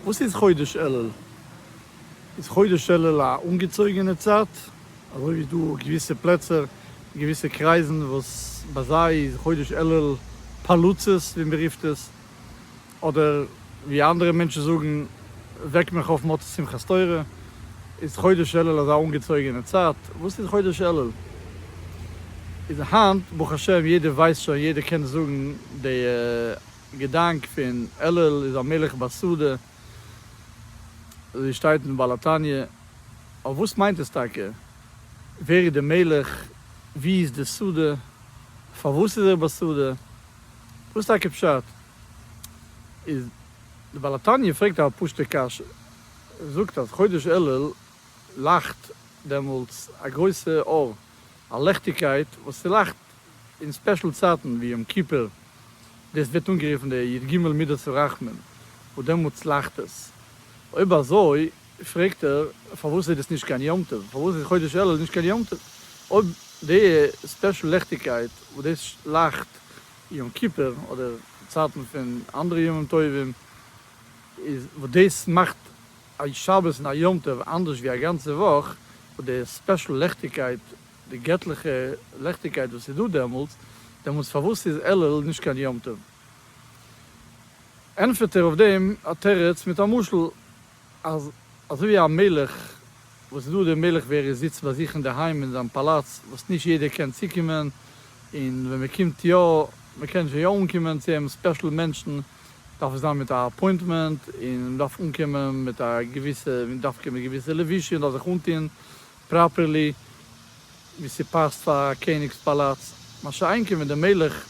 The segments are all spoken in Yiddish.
וואס איז חודש אלול? איז חודש אלול א אנגעצויגענע צייט, אזוי ווי דא געוויסע פלעצער, געוויסע קרייזן וואס ביי זיי איז חודש אלול פלוצות ווי מען רופט עס, אדער ווי אנדערע מענטשן זאגן וועק מיך אויף מוצאי שמחת תורה, איז חודש אלול אזא אנגעצויגענע צייט? וואס איז חודש אלול? איז היינט ברוך השם יעדער ווייסט שוין, יעדער קען זאגן די. געדאנק פון אלול איז א מלך בשדה, אזוי שטייט אין בעל התניא, אבער וואס מיינט עס טאקע? ווער איז די מלך? וואו איז די שדה? פארוואס איז ער בשדה? וואס טאקע פשט? איז די בעל התניא פרעגט א פשוטע קשיא, ער זאגט אז חודש אלול לייכט דעמאלטס א גרויסע אור, א לעכטיגקייט וואס ס'לייכט אין ספעשל צייטן ווי יום כיפור, דאס ווערט אנגערופן די י ג מידות הרחמים, וואס דעמאלט צלאכט עס. אויב אזוי פרעגט ער, פארוואס איז דאס נישט קיין יום טוב? פארוואס איז חודש אלול נישט קיין יום טוב? אויב די ספעשל לעכטיגקייט וואס דאס לייכט יום כיפור אדער צייטן פון אנדערע ימים טובים, איז וואס דאס מאכט א שבת און א יום טוב אנדערש ווי א גאנצע וואך, וואס די ספעשל לעכטיגקייט די געטליכע לעכטיגקייט וואס איז דא דעמאלטס, דעמאלטס פארוואס איז אלול נישט קיין יום טוב? ענטפערט ער אויף דעם א תירוץ מיט א משל, אז אזוי ווי א מלך וואס איז דא דער מלך ווער ער זיצט ביי זיך אינדערהיים אין זיין פאלאץ וואס נישט יעדער קען צוקומען, און ווען מען קומט יא, מען קען שוין יא אנקומען צו אים, ספעשל מענטשן דארף עס זיין מיט א אפוינטמענט, און מען דארף אנקומען מיט א געוויסע, דווקא מיט געוויסע לבושים, מען דארף זיך אנטון פראפערלי ווי ס'פאסט פאר א קעניג'ס פאלאץ, מה שאין כן ווען דער מלך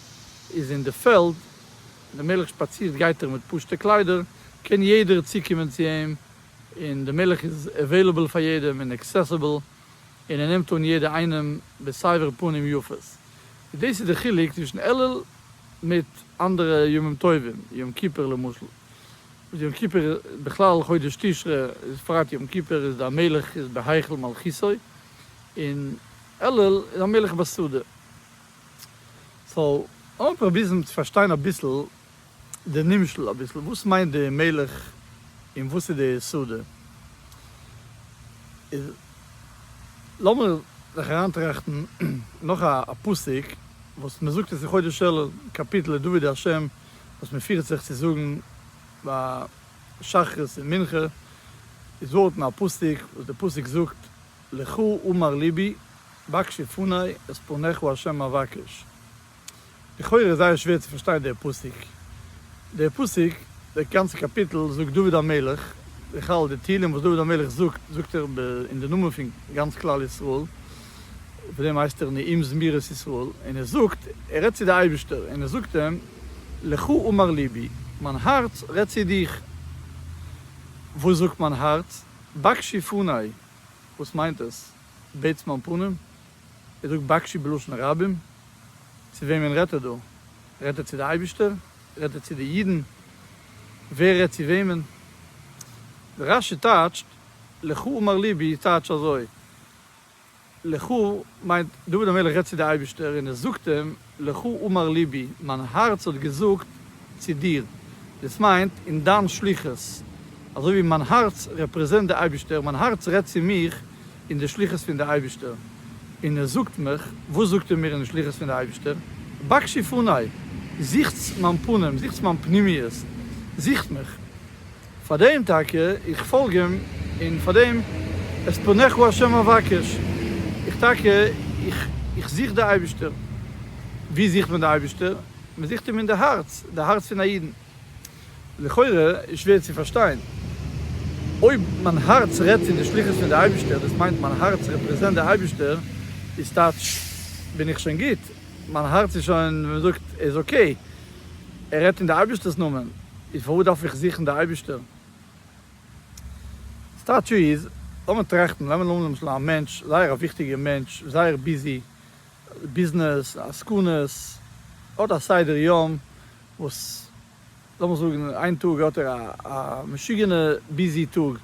איז אין די פעלד, ווען דער מלך שפאצירט גייט ער מיט פשוטע קליידער, קען יעדער צוקומען צו אים, און דער מלך איז עוועילעבל פאר יעדעם און עקסעסיבל, און ער נעמט אן יעדע איינעם בסבר פנים יפות, איז דאס איז די חילוק צווישן אלול מיט אנדערע ימים טובים, יום כיפור למשל. יום כיפור בכלל חודש תשרי איז פרט יום כיפור איז דער מלך איז בהיכל מלכותו און אלול איז דער מלך בשדה. סאו לאמיר פראבירן צו פארשטיין אביסל די נמשל אביסל וואס מיינט די מלך און וואס איז די שדה איז לאמיר זיך אריינטראכטן נאך א פסוק וואס מען זאגט עס אין חודש אלול קאפיטל לדוד ה' וואס מען פירט זיך צו זאגן ביי שחרית און מנחה איז דארטן א פסוק וואס די פסוק זאגט לך אמר לבי בקשי פני את פניך ה' אבקש לכאורה איז זייער שווער צו פארשטיין דער פסוק דער פסוק דער גאנצע קאפיטל זאגט דוד המלך בכלל די תהילים וואס דוד המלך זאגט זאגט ער אין די נאמען פון גאנץ כלל ישראל. אויף דעם הייסט ער נעים זמירות ישראל, און ער זאגט, ער רעדט צו די אייבישטער, און ער זאגט אים, לך אמר לבי, מיין הארץ רעדט צו דיך. וואס זאגט מיין הארץ? בקשי פני, וואס מיינט עס, בעטס מיין פנים? ער זאגט בקשי בלשון רבים, צו וועמען רעדט ער דא? רעדט ער צו די אייבישטער? רעדט ער צו די אידן? ווער רעדט צו וועמען? רשי טייטשט, לך אמר לבי טייטש אזוי, לכו מיינט דוד המלך רעדט צו די אייבישטער און ער זאגט אים לכו אמר ליבי מיין הארץ האט געזאגט צו דיר דאס מיינט אין דיין שליחות אזוי ווי מיין הארץ רעפרעזענט די אייבישטער מיין הארץ רעדט צו מיך אין די שליחות פון די אייבישטער און ער זאגט מיך וואס זאגט ער מיר אין די שליחות פון די אייבישטער בקשי פני זוכטס מיין פנים זוכטס מיין פנימיות זוכט מיך. פארדעם טאקע איך פאלג אים, און פארדעם את פניך השם אבקש, איך טאקע איך איך זוך די אייבישטער. ווי זוכט מען די אייבישטער? מען זוכט אים אין די הארץ, די הארץ פון א אידן. לכאורה איז שווער צו פארשטיין, אויב מיין הארץ רעדט פון די שליחות פון די אייבישטער, דאס מיינט מיין הארץ רעפרעזענט די אייבישטער, איז טייטש בין איך שוין גוט, מיין הארץ איז שוין ווי מען זאגט איז אקעי. ער רעדט אין די אייבישטערס נאמען, איז פארוואס דארף איך זוכן די אייבישטער? סטאטשו איז, לאמיר טראכטן, נעמען אן למשל א מענטש, זייער א וויכטיגער מענטש, זייער ביזי, ביזנעס, עסקנות, האט א סדר יום וואס, לאמיר זאגן איין טאג האט ער א משוגענע ביזי טאג,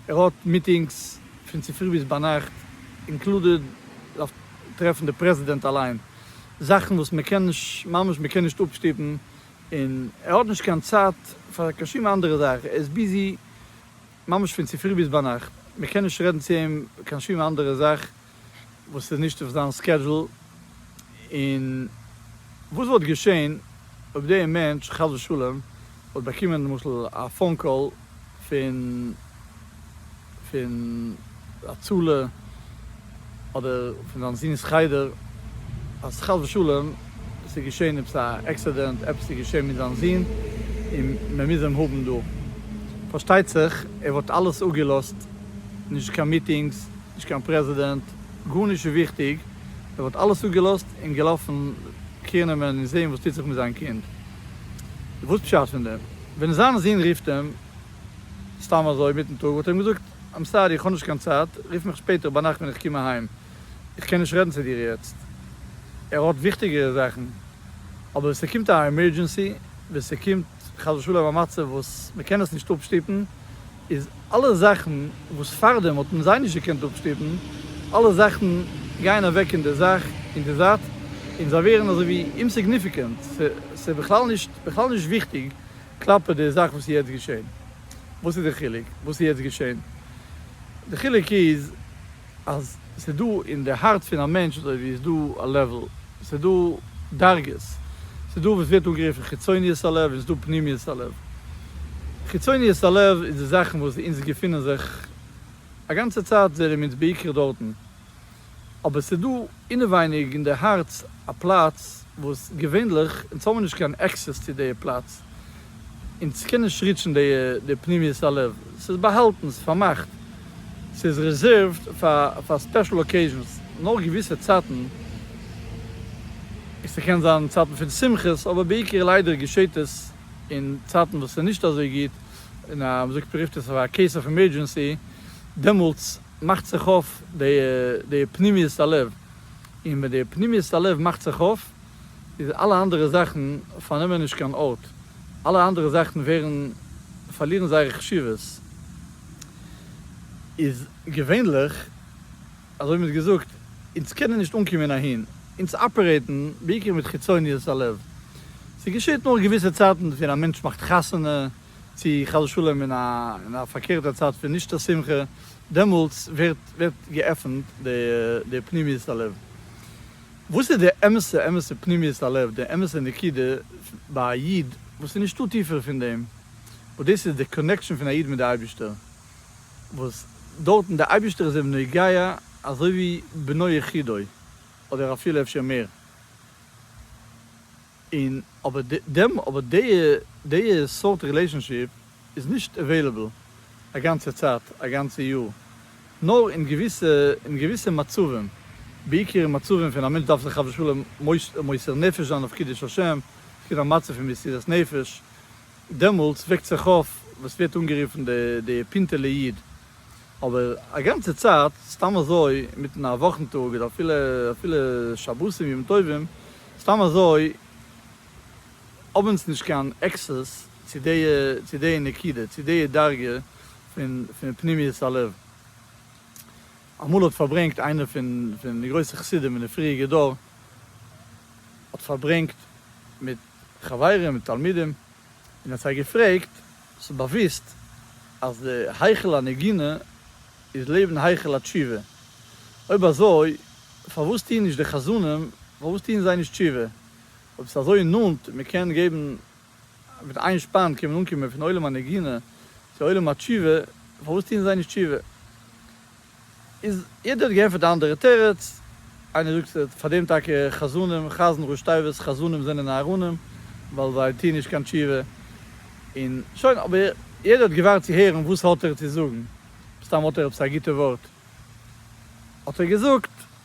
ער האט מיטינגס פון צופרי ביז ביינאכט, אינקלודעד דארף טרעפן די פרעזידענט אליין, זאכן וואס מען קען נישט ממש מען קען נישט אפשטופן, און ער האט נישט קיין צייט פאר קיין שום אנדערע זאך, ער איז ביזי ממש פון צופרי ביז ביינאכט, מען קען נישט רעדן צו אים קיין שום אנדערע זאך וואס איז נישט אויף זיין סקעדזשול, און וואס וואלט געשען אויב דער מענטש חס ושלום וואלט באקומען למשל א פאון קאל פון פון הצלה אדער פון זיין זון'ס חדר אז חס ושלום עס איז געשען עפעס א עקסידענט עפעס איז געשען מיט זיין זון און מען מוז אים האבן דא פארשטייט זיך ער וואלט אלעס אפגעלאזט נישט קיין מיטינגס נישט קיין פרעזידענט גארנישט איז וויכטיג ער וואלט אלעס אפגעלאזט און געלאפן קעיר נעמען און זעהן וואס טוט זיך מיט זיין קינד. וואס פשט פון דעם? ווען זיין זון רופט אים סתם אזוי מיטן טאג האט ער אים געזאגט איים סארי איך האב נישט קיין צייט רוף מיך שפעטער ביינאכט ווען איך קום אהיים איך קען נישט רעדן צו דיר יעצט ער האט וויכטיגערע זאכן אבער ווען ס'קומט א עמערדזשענסי ווען ס'קומט חס ושלום א מצב וואס מ'קען עס נישט אפשטופן איז אלע זאכן וואס פארדעם האט מען זיי נישט געקענט אפשטופן, אלע זאכן גייען אוועק אין די זאך, אין די זייט, און זיי ווערן אזוי ווי אומסיגניפיקענט, ס'איז בכלל נישט בכלל נישט וויכטיג כלפי די זאך וואס איז יעצט געשען. וואס איז די חילוק וואס איז יעצט געשען? די חילוק איז אז ס'איז דא אין די הארץ פון א מענטש אזוי ווי איז דא א לעוועל, ס'איז דא דרגות, ס'איז דא וואס ווערט אנגערופן חיצוניות הלב און ס'איז דא פנימיות הלב. חיצוניות הלב איז די זאכן וואס אונז געפונען זיך א גאנצע צייט זעער אום אונז בעיקר דארטן, אבער ס'איז דא. אינעווייניג אין די הארץ א פלאץ וואס געווענליך אונז האבן נישט קיין עקסעס צו די פלאץ, אונז קען נישט ריטשן די פנימיות הלב, ס'איז באהאלטן, ס'איז פארמאכט, ס'איז רעזערווד פאר ספעשל אקעיזשנס, נאר געוויסע צייטן, ס'קען זיין צייטן פון שמחות, אבער בעיקר ליידער געשעט עס אין צייטן וואס ס'איז נישט אזוי גוט, און מ'זאגט מ'רופט עס אויף א קעיס אוו עמערדזשענסי, דעמאלטס מאכט זיך אויף די פנימיות הלב, און ווען די פנימיות הלב מאכט זיך אויף, איז אלע אנדערע זאכן פארנעמען נישט קיין ארט, אלע אנדערע זאכן ווערן, פארלירן זייער חשיבות, איז געווענליך, אזוי מ'האט געזאגט, אונז קענען נישט אנקומען אהין, אונז אפערעיטן בעיקר מיט חיצוניות הלב, ס'געשעט נאר געוויסע צייטן, ווען א מענטש מאכט חתונה, צו חס ושלום אין א אין א פארקערטע צייט פון נישט א שמחה, דעמאלטס ווערט ווערט געעפנט די די פנימיות הלב. וואס איז די אמת'ע אמת'ע פנימיות הלב, די אמת'ע נקודה ביי א איד, וואס איז נישטא טיפער פון דעם, וואס דאס איז די קאנעקשאן פון א איד מיט די אייבישטער, וואס דארטן די אייבישטער איז אים נוגע אזוי ווי בנו יחידו, אדער אפילו אפשר מער. און אבער דעם אבער דעיע דעיע סארט רילעישאנשיפ איז נישט עוועילעבל א גאנצע צייט א גאנצע יאר נאר אין געוויסע אין געוויסע מצבים בעיקר אין מצבים פון א מענטש דארף זיך חס ושלום מוסר נפש זיין אויף קידוש השם עס קומט א מצב פון מסירת נפש דעמאלטס וועקט זיך אויף וואס ווערט אנגערופן די פינטעלע איד אבער א גאנצע צייט סתם אזוי מיטן א וואכן טאג אדער אפילו אפילו שבתים ימים טובים סתם אזוי האב אונז נישט קיין עקסעס צו די צו די נקודה צו די דרגה פון פון פנימיות הלב. אמאל האט פארברענגט איינער פון פון די גרויסע חסידים אין די פריעריגע דור האט פארברענגט מיט. חברים און תלמידים, און האט זיי געפרעגט, האסט דאך באוויסט אז די היכל הנגינה איז לעבן היכל התשובה, אויב אזוי פארוואס טוען נישט די חזנים, פארוואס טוען זיי נישט תשובה, אויב ס'איז אזוי נאנט און מ'קען געבן מיט איין שפאן קען מען אנקומען פון עולם הנגינה צו עולם התשובה, פארוואס טוען זיי נישט תשובה? איז יעדער האט געענטפערט א אנדערע תירוץ, איינער זאגט ס'וועט פאר דעם טאקע חזנים, חזן ראש תיבות חזנים זענען אהרונים, ווייל זיי טוען נישט קיין תשובה, און שוין, אבער יעדער האט געווארט צו הערן וואס האט ער צו זאגן, מסתם האט ער עפעס א גוטע ווארט האט ער געזאגט.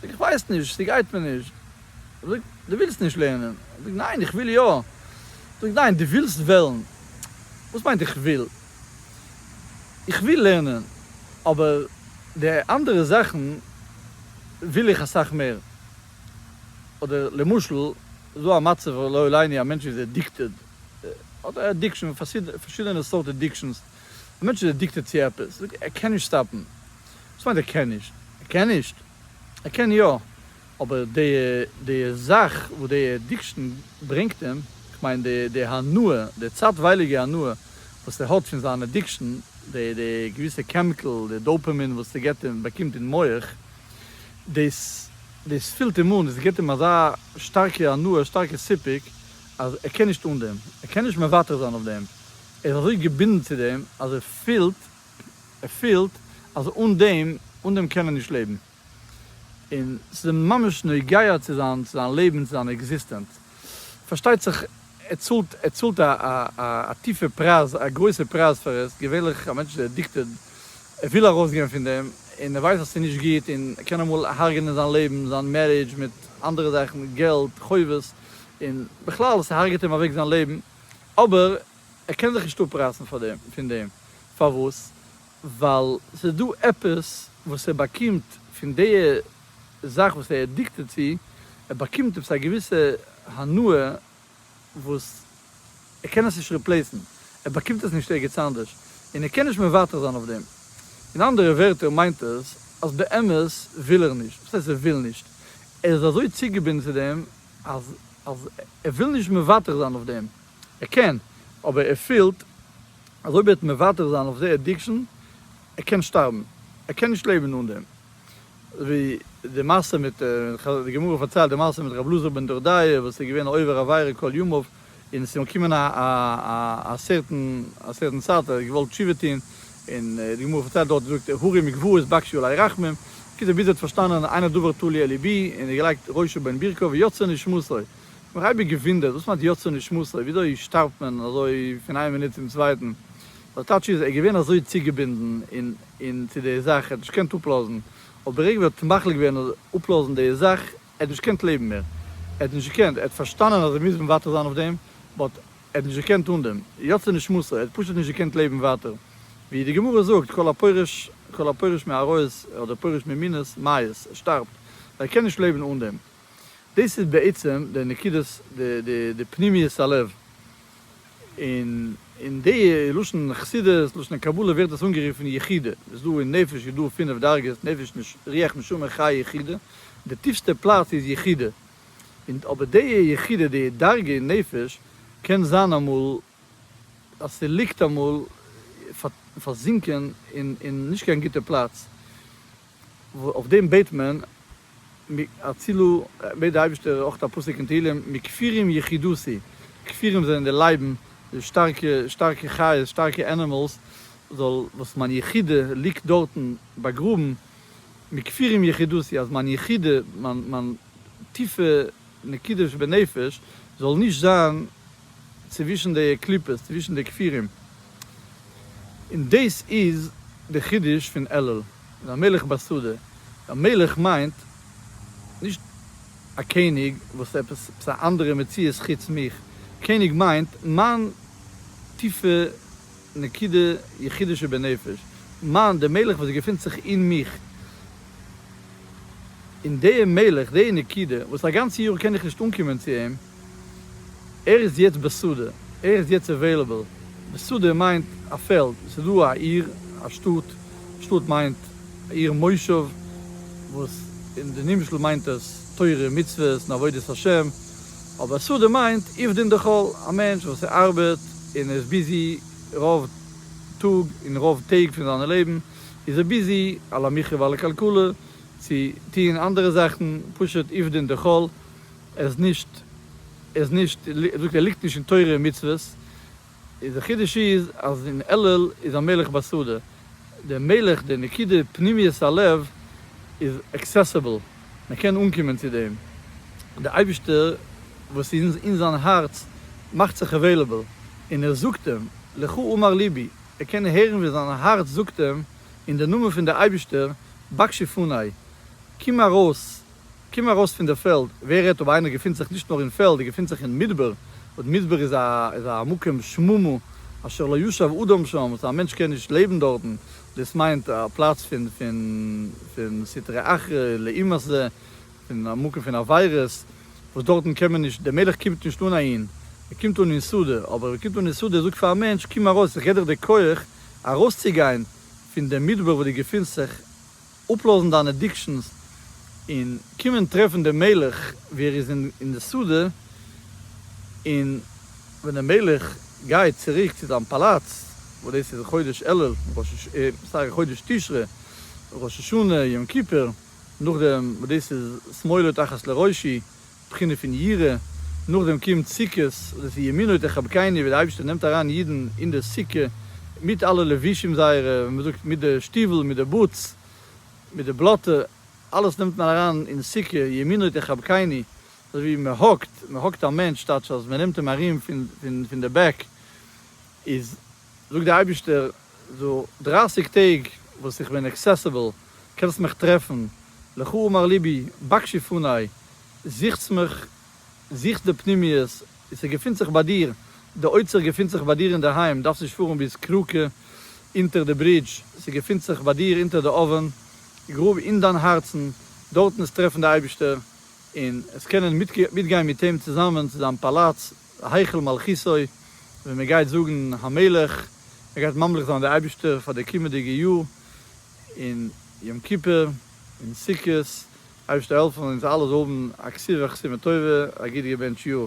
זאג איך ווייס נישט, ס'גייט מיר נישט. ער זאגט, דו ווילסט נישט לערנען? איך זאג, ניין, איך וויל יא. ער זאגט, ניין, דו ווילסט וועלן. וואס מיינט איך וויל? איך וויל לערנען, אבער די אנדערע זאכן וויל איך אסאך מער. אדער למשל, איז דא א מצב, לא עליני, א מענטש איז עדיקטעד, האט א עדיקשאן, פארשידענע סארט עדיקשאנס, א מענטש איז עדיקטעד צו עפעס, זאג ער קען נישט סטאפן, וואס מיינט ער קען נישט? ער קען נישט? ער קען יא, אבער די די זאך וואס די עדיקשן ברענגט אים, כ'מיין די די הנאה, די צייטווייליגע הנאה וואס ער האט פון זיין עדיקשן, די די געוויסע קעמיקעל, די דאופעמין וואס ס'געט אים, באקומט אין מח, דאס דאס פילט אים אן, דאס גיבט אים אזא שטארקע הנאה, שטארקע סיפוק, אז ער קען נישט אן דעם, ער קען נישט מוותר זיין אויף דעם. ער איז אזוי געבינדן צו דעם אז ער פילט, ער פילט אז אן דעם, אן דעם קען ער נישט לעבן. און ס'איז אים ממש נוגע צו זיין, צו זיין לעבן, צו זיין עקזיסטענץ. פארשטייט זיך ער צאלט, ער צאלט א טיפע פרייז, א גרויסע פרייז פאר עס. געווענליך א מענטש איז עדיקטעד, ער וויל ארויסגיין פון דעם, און ער ווייסט אז ס'איז נישט גוט, און ער קען אמאל הרג'נען זיין לעבן, זיין מערידזש, מיט אנדערע זאכן, געלט, חובות, און בכלל ס'הרג'עט אים אוועק זיין לעבן. אבער ער קען זיך נישט אפרייסן פון דעם, פארוואס? ווייל ס'איז דא עפעס וואס ער באקומט פון די זאך וואס ער איז עדיקטעד צו, ער באקומט עפעס א געוויסע הנאה וואס ער קען עס נישט ריפלעיסן, ער באקומט עס נישט ערגעץ אנדערש, און ער קען נישט מוותר זיין אויף דעם. אין אנדערע ווערטער מיינט עס אז באמת וויל ער נישט, וואס הייסט ער וויל נישט? ער איז אזוי צוגעבינדן צו דעם אז אז ער וויל נישט מוותר זיין אויף דעם, ער קען, אבער ער פילט אז אויב ער וועט מוותר זיין אויף די עדיקשאן, ער קען שטארבן, ער קען נישט לעבן אן דעם. ווי די מעשה מיט, די גמרא פארציילט די מעשה מיט רב אלעזר בן דורדיא וואס איז געווען א עובר עבירה כל ימיו, און ס'איז אים געקומען א סערטען צייט, ער האט געוואלט תשובה טון, און די גמרא פארציילט דארט, זאגט ער, הרים גבעות בקשו עלי רחמים, בקיצור ביז ער האט פארשטאנען איין הדבר תלוי על ליבי, און ער האט געלייגט ראשו בין ברכיו ויצא נשמתו, איך האב מיך אייביג געוואונדערט, וואס מיינט יצא נשמתו, וויאזוי שטארבט מען אזוי פון איין מינוט צום צווייטן, דער טייטש איז, ער איז געווען אזוי צוגעבינדן צו די זאך, ער האט נישט געקענט אפלאזן, אבער ברגע ווי ער האט מחליט געווען אפלאזן די זאך, ער האט נישט געקענט לעבן מער, ער האט נישט געקענט, ער האט פארשטאנען אז ער מוז מוותר זיין אויף דעם, באט ער האט נישט געקענט אן דעם, יצא נשמתו, ער האט פשוט נישט געקענט לעבן ווייטער, ווי די גמרא זאגט כל הפורש כל הפורש מעריות אדער פורש ממינות מית, ער שטארבט, ווייל ער קען נישט לעבן אן דעם, דאס איז בעצם די נקודת די פנימיות הלב, און אין די לשון חסידות, לשון קבלה ווערט עס אנגערופן יחידה, איז דא אין נפש איז דא פינף דרגות, נפש רוח נשמה חי יחידה, די טיפסטע פלאץ איז יחידה, און אבער די יחידה די דרגה אין נפש קען זיין אמאל אז ס'ליגט אמאל פארזינקען אין נישט קיין גוטע פלאץ, אויף דעם בעט מען, הצילו, בעט די אייבערשטער אויך א פסוק אין תהילים, מכפירים יחידותי, כפירים זענען די לייבן, די שטארקע שטארקע חיות, שטארקע ענימעלס, זאל וואס מיין יחידה ליגט דארטן באגראבן, מכפירים יחידותי, אז מיין יחידה, מיין מיין טיפע נקודה שבנפש, זאל נישט זיין צווישן די קליפות, צווישן די כפירים. און דאס איז די חידוש פון אלול. און א מלך בשדה, א מלך מיינט נישט א קעניג וואס עפעס עפעס א אנדערע מציאות חוץ מיך, קעניג מיינט מיין טיפע נקודה יחידה שבנפש, מיין די מלך וואס געפינט זיך אין מיך, און די מלך די נקודה וואס א גאנצע יאר קען איך נישט אנקומען צו אים, ער איז יעצט בשדה, ער איז יעצט עוועילעבל, בשדה מיינט א פעלד, עס איז דא א עיר, א שטאט, שטאט מיינט עיר מושב, וואס אין די נמשל מיינט עס תורה און מצוות און עבודת השם, אבער שדה מיינט עבדין דחול, א מענטש וואס ער ארבעט און ער איז ביזי רוב טאג, און רוב טעג פון זיינע לעבן איז ער ביזי על המחיה ועל הכלכלה צו טוהן אנדערע זאכן, פשוט עבדין דחול, ער איז נישט, ער איז נישט, ער זאגט ער ליגט נישט אין תורה און מצוות, איז די חידוש איז אז אין אלול איז א מלך בשדה, די מלך די נקודה פנימיות הלב איז עקסעסעבל, מען קען אנקומען צו דעם, די אייבישטער וואס איז אין זיין הארץ מאכט זיך עוועילעבל און ער זאגט אים לך אמר ליבי, ער קען הערן ווי זיין הארץ זאגט אים אין די נאמען פון די אייבישטער בקשי פני, קום ארויס קום ארויס פון דער פעלד, ווער רעדט אויב איינער געפינט זיך נישט נאר אין פעלד, ער געפינט זיך אין מדבר, און מדבר איז א איז א מקום שמומה, אשר לא ישב אדם שם, וואס א מענטש קען נישט לעבן דארטן, דאס מיינט א פלאץ פון פון פון סטרא אחרא, לעומת זה, פון א מקום פון עבירות, וואס דארטן קען מען נישט, דער מלך קומט נישט אן אהין, ער קומט אן אין שדה, אבער ווען ער קומט אן אין שדה, ער זאגט פאר א מענטש, קום ארויס, איך געב דיך די כח ארויסצוגיין פון דעם מדבר וואו דו געפינסט זיך, אפלאזן דיינע אדיקשאנס און קומען טרעפן דעם מלך ווי ער איז אין די שדה, און ווען דער מלך גייט צוריק צו זיין פאלאץ, וואס דאס איז חודש אלול, סארי חודש תשרי, ראש השנה, יום כיפור, נאכדעם וואס דאס איז שמאלה תחת לראשי, בחינה פון יראה, נאכדעם קומט סוכות, דאס איז ימינו תחבקני ווי די אייבערשטער נעמט אריין אידן אין די סוכה מיט אלע לבושים זייערע, ווי מען זאגט מיט די שטיוול מיט די בוטס מיט די בלאטע, אלעס נעמט מען אריין אין סוכה, ימינו תחבקני, אזוי ווי מען האגט, מען האגט א מענטש טייטש אז מען נעמט אים ארום פון די בעק, איז. זאג די אייבישטער דו דרייסיג טעג וואס איך בין עקסעסעבל קענסט מיך טרעפן, לך אמר ליבי בקשי פני, זוכטס מיך, זוכטס די פנימיות, ס'געפינט זיך ביי דיר, די אוצר געפינט זיך ביי דיר אינדערהיים, דארפסט נישט פארן ביז קראקע אונטער די ברידזש, ס'געפינט זיך ביי דיר אונטער די אווען, גראב אין דיין הארצן, דארטן איז טרעפן די אייבישטער, און עס קענען מיטגיין מיט אים צוזאמען צו זיין פאלאץ, להיכל מלכותו, ווי מען גייט זאגן המלך, מען גייט ממליך זיין די אייבערשטער פאר די קומענדיגע יאר, און יום כיפור, און סוכות, אייבערשטער העלף אונז אלע זאל האבן א כסוו חסימה טובה, א גוט געבענטש יאר.